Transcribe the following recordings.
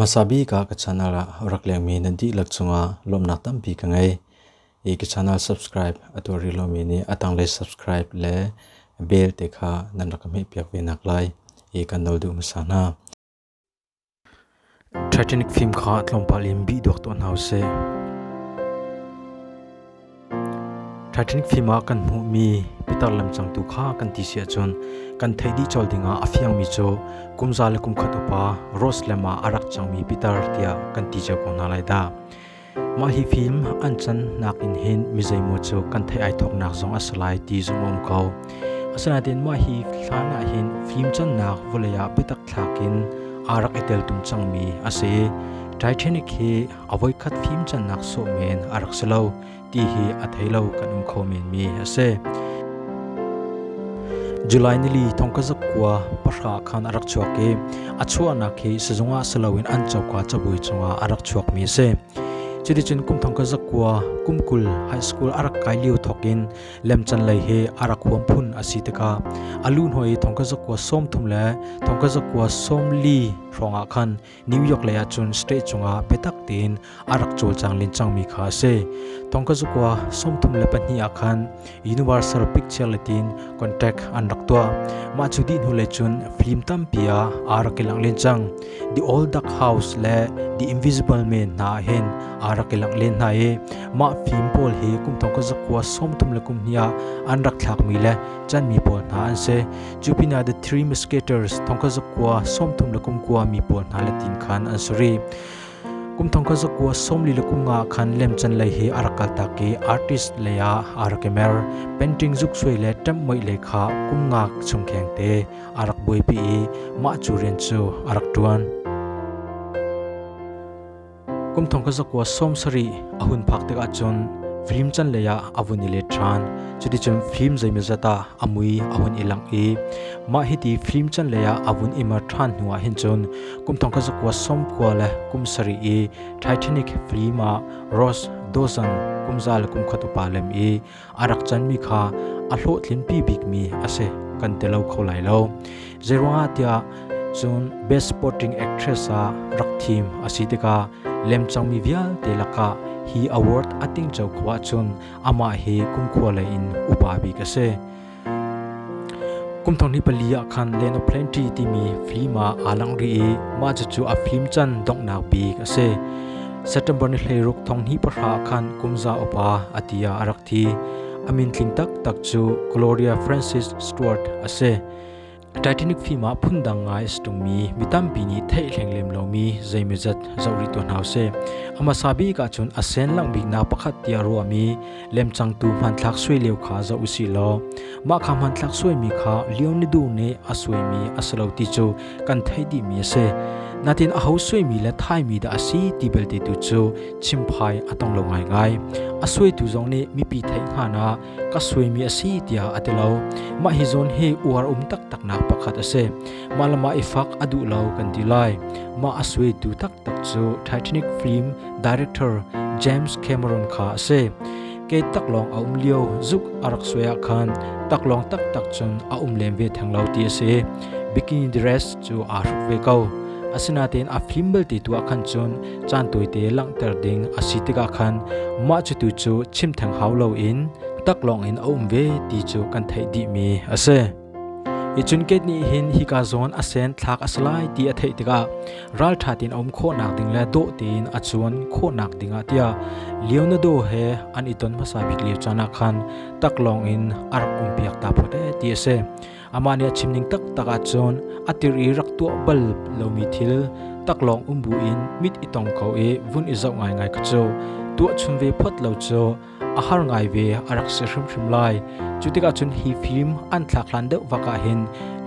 hmasa bik ah ka channel ah rak lengmi nan dihlak cungah lawmnak tampi ka ngei. I ka channel subscribe a tuar rih lomi nih a tanglei subscribe le bell te kha nan rak ka hmehpiak ve nak lai i kan no duh hmasa hna. Titanic fim kha tlawmpal in bih duak tuah hna u sih. Titanic fim ah kan hmuhmi pitar lemcangtu kha kan ti si ahcun kan theih dih cawl dingah a fiangmi cu kum za le kum khat upa Rose lam ah a rak cangmi pitar tiah kan ti cio ko hna lai dah. Mah hi film an cannak in hin mizeimaw cu kan theih ai thawknak zong a si lai ti zong a um ko. Asinain mah hi hlan ah hin film cannak vawlei ah biatak thlak in aa rak i tel tum cangmi a si. Titanic hi a voikhat film cannak sawh men a rak si lo ti hi a thei lo kan um kho menmi a si. July nili thongkazak kua pahra khan a rak chuak i A chuahnak hi sizung ah si loin an coka cabuai cungah a rak chuakmi a si. Cuticun kumthong ka zakua kumkul high school a rak kai lio thawk in lemcan lei hi a rak huam phun a si tikah a lu hnuai i thongka zakua sawm thum le thongka zakua sawm li hrawngah khan New York lei ahcun state cungah biatak tein a rak cawlcang len cangmi kha a si. Thongkha zukua sawmthum le pahnih ah khan universal picture letin contact an rak tuah. Mah cu dih hnu le cun film tampi ah aa rak i langh len cang. The Old Duck House le The Invisible Man hna hin aa rak i langh len hna i mah film pawl hi kum thongkha zakua sawmthum le kum hnih ah an rak thlakmi le chanmi pawl hna an si. Cu pinah The Three Musketeers thongkha zakua sawmthum le kum kua mi pawl hna letin khan an suri. kum thong kha zakua somli le kum nga khan lemchan lei hi a rak kal tak i artist lei ah a rak i mer painting zuk suai le ṭamh moih lei kha kum nga chung kheng te a rak buaipi i mah cu rian cu a rak ṭuan kum thong kha zakua som sari a hun phak tik ahcun film chan lei ah a vun i let ṭhan cuticun film zeimazat ah a mui a hun i langh i mah hiti film chan lei ah a vun imar ṭhan hnu ah hin cun kum thong ka zakua som khua le kum sari i Titanic film ah Ross Dawson kum za le kum khat upa lem i arak chan mi kha a hlawhtlin pi bik mi ase kan te lo kho lai lo zeruanga tia cun best supporting actress a rak thim asi tika lemchang mi vial te laka hi award ating chau khwa chun ama hi kum khua le in upa bik ase Kumthong ni pali ah khan Land of Plenty timi film ah aa lang rih i mah cucu a film can donghnak bik a si. September ni hleiruk thong hnih pahra ah khan kum za upa a ti ah a rak thi. A min tling taktak cu Gloria Frances Stewart a si. Titanic film ah phundang ngai a si tungmi mi tampi nih theihhleng lem lomi zeimawzat zoh rih tuan hau sih. A hmasa bik ahcun a sen langbik na pakhat tiah ruahmi lemcangtu hmanthlak suai lio kha zoh u si law mah kha hmanthlak suaimi kha Leonardo nih a suaimi a si lo ti cu kan theih dihmi a si. Natin a ho suaimi le thaimi dah a si ti belte tu cu chimphai a tong lo ngaingai. A suaitu zong nih mipi theih hngan ah ka suimi a si tiah a ti lo. Mah hi zawn hi uar um taktaknak pakhat a si. Mah le mah i fak a duh lo kan ti lai. Mah a suitu taktak cu Titanic film director James Cameron kha a si. Kei taklawng a um lio zuk a rak suai ah khan taklawng taktak cun a um lem ve theng lo ti a si. Bikini dress cu aa hruk ve ko. Asinain a fim belte tu ah khan cun caan tawite langhter ding a si tikah khan mah cu tu cu chim theng hau loin tak lawngin a um ve ti cu kan theih dihmi a si. Hi cun kei nih hin hika zawn a sen thlak a si lai ti a theih tikah ralṭha tein a um khawhnak ding le dawh tein a cuan khawhnak dingah tiah Leonardo he an i ton hmasa bik lio caan ah khan tak lawngin a rak umpiak ta phawt ee ti a si. Amah nih a chimning taktak ahcun a tir i rak tuah bal lomi thil taklawng um buin mit i tong ko i vun i zoh ngaingai kha cu tuahchun ve phot lo cu a har ngai ve a rak si hrimhrim lai. Cu tikah cun hi fim an thlak hlan deuh bak ah hin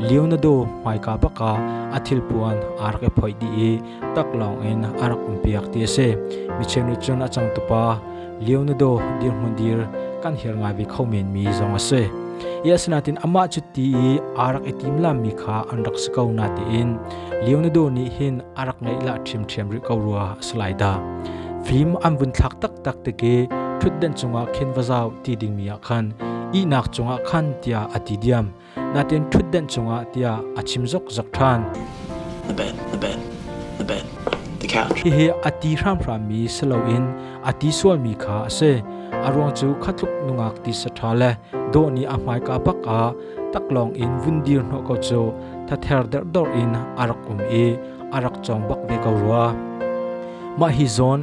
Leonardo hmaika bak ah a thilpuan aa rak i phoih dih i taklawng in a rak umpiak ti a si. Mi cheu nih cun a cangtupa Leonardo dirhmun dir kan hir ngai ve kho men mi zong a si. Ia sinatin amah cu ti i a rak i tim lammi kha an rak si ko na tiin Leonardo nih hin a rak ngeih la ṭhimṭhiam rih ko rua a si lai da. Fim an vun thlak taktak tike ṭhutden cungah khin va zau ti dingmi ah khan ihnak cungah khan tiah a ti diam. natin ṭhutdenh cungah tiah a chim zokzok ṭhan. Hihi a ti hramhrammi si loin a ti sualmi kha a si. A ruang cu khatluk nungak tisa ṭha le dawh nih a hmaika bak ah taklawng in vun dir hnawh ko cu thather derhdor in a rak um i a rak cawng bak ve ko rua. Mah hi zawn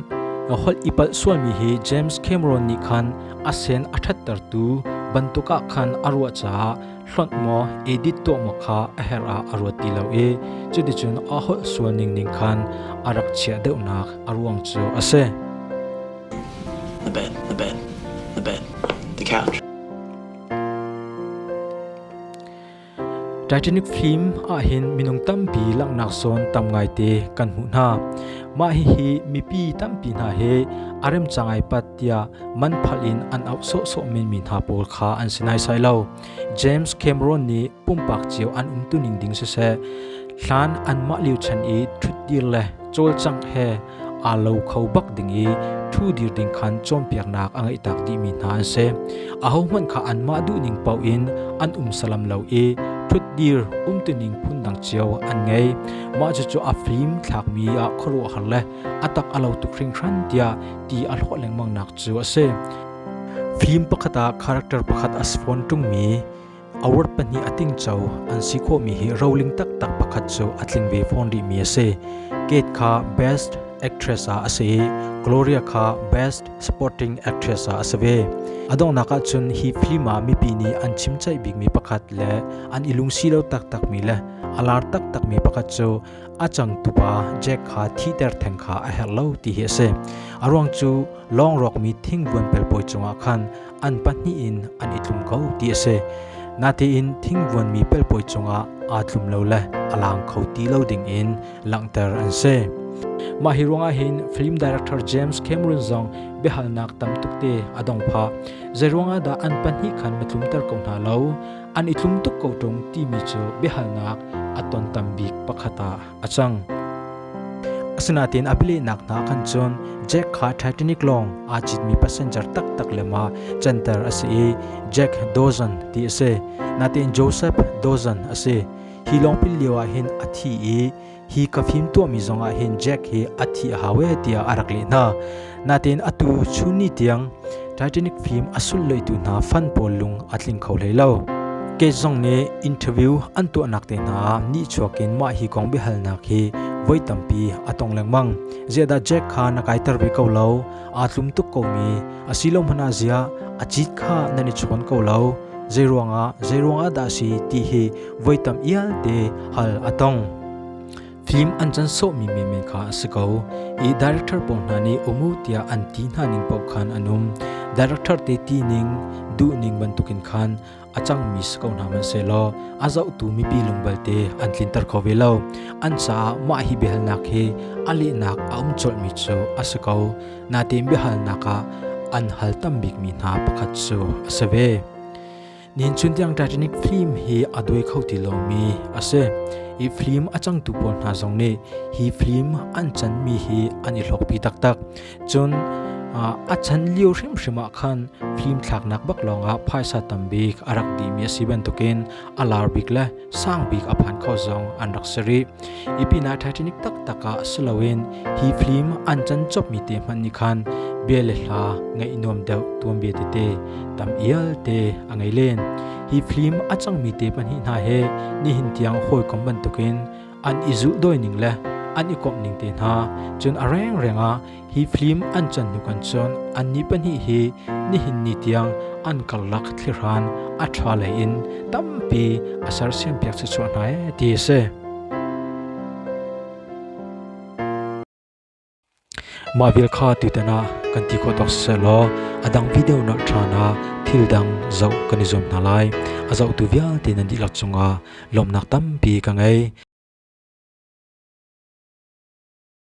holh i palh sualmi hi James Cameron nih khan a sen a ṭhattertu bantuk ah khan a ruah caah hlonh maw edit tuah maw kha a herh ah a ruat ti lo i cuticun a holh sual ningning khan a rak chiah deuhnak a ruang cu a si. A bit, a bit, a bit. The couch. Titanic film ahhin minung tampi langhnak zawn tam ngaite kan hmuh hna. Mah hihi mipi tampi hna he a remca ngaipat tiah man phal in an auh sawhsawh menmi hna pawl kha an si naisai lo. James Cameron nih pumpak cio an um tuning ding siseh, hlan anmah liuchan i ṭhutdir le cawlcangh he aa lo kho bak ding i ṭhu dir ding khan cawnpiaknak a ngeih tak dihmi hna an si. Ahohmanh kha anmah duhning paoh in an um salam lo i ṭhutdir umtuning phundang cio an ngei. Mah cucu a fim thlakmi ah khuaruahhar le a tak a lo tuk hringhran tiah ti a hlawh lengmangnak cu a si. Fim pakhat ah character pakhat a spawn ṭungmi Award pahnih a tingco an si khawhmi hi roling taktak pakhat cu a tling ve fawn rihmi a si. Kate kha Best Actress ah a si i Gloria kha Best Supporting Actress ah a si ve. A donghnak ahcun hi film ah mipi nih an chimcaih bikmi pakhat le an i lungsi lo taktakmi le a lar taktakmi pakhat cu a changtupa Jack kha thihter theng kha a herh lo ti hi a si. A ruang cu lawng rawkmi thingbuan pelpawi cungah khan an pahnih in an i tlum ko ti a si. Natein thingvuanmi pelpawi cungah aa tlum lo le a lang kho ti lo dingin langhter an si. Mah hi ruangah hin film director James Cameron zong biahalnak tamtuk te a dong pha zei ruangah dah an pahnih khan ma tlumter ko hna lo an i tlum tuk ko ṭung timi cu biahalnak a ton tam bik pakhat ah a cang. Asinain a bilehnak hna khan cun Jack kha Titanic lawng aa citmi passenger taktak le ma canter a si i Jack Dawson ti a si. Natein Joseph Dawson a si. Hi lawng pil lio ah hin a thi i hi ka fim tuahmi zongah hin Jack hi a thi a hau e tiah a rak leh hna. Natin atu chunni tiang Titanic film a sulloitu hna fan pawl lung a tling kho hlei lo. Cage zong nih interview an tuahnak te hna ah nihchuak in mah hi kong biahalnak hi voi tampi a tong lengmang. Ziadah Jack kha na kaiter ve ko lo, aa tlum tuk komi, asilo hmana zia, a cit kha nan i chuan ko lo, zei ruangah, zei ruangah dah si ti hi voi tam ial te hal a tong. Film an can sawhmi menmen kha a si ko. I director pawl hna nih umu tiah an ti hna ning paoh khan an um. Director te ti ning, duh ning bantukin khan a cangmi si ko hna hmanh selaw a zohtu mipi lungbalte an tlinter kho ve lo. An caah mah hi biahalnak hi a lehnak a um colhmi cu a si ko. Natein biahalnak ah an hal tam bikmi hna pakhat cu a si ve. Nin chun tiang Titanic film hi a duai kho ti lomi a si. I film a cangtu pawl hna zong nih hi film an chanmi hi an i hlawkpi taktak. Cun a chan lio hrimhrim ah khan film thlaknak bak lawngah phaisa tambik a rak dimi a si bantukin a lar bik le sangbik a phan kho zong an rak si rih. I pinah Titanic taktak ah si loin hi film an can chopmi te hmanh nih khan bia le hla ngaih nuam deuh tuan bia tete tam ial te a ngei len. Hi film a cangmi te pahnih hna he nihin tiang hawikom bantukin an i zulh dawining le an i komh ning te hna cun a rengreng ah hi flim an chan hnu kan cun an ni pahnih hi nihin ni tiang an karlak thlihran a tha lei in tampi a sersiam piak se chuah hna e ti a si Mah vial kha tutan ah kan ti khawh tuk sehsawhlaw a dang video nolh ṭhan ah thil dang zoh kan i zuam hna lai. A zohtu vialte nan dihlak cungah lawmhnak tampi ka ngei.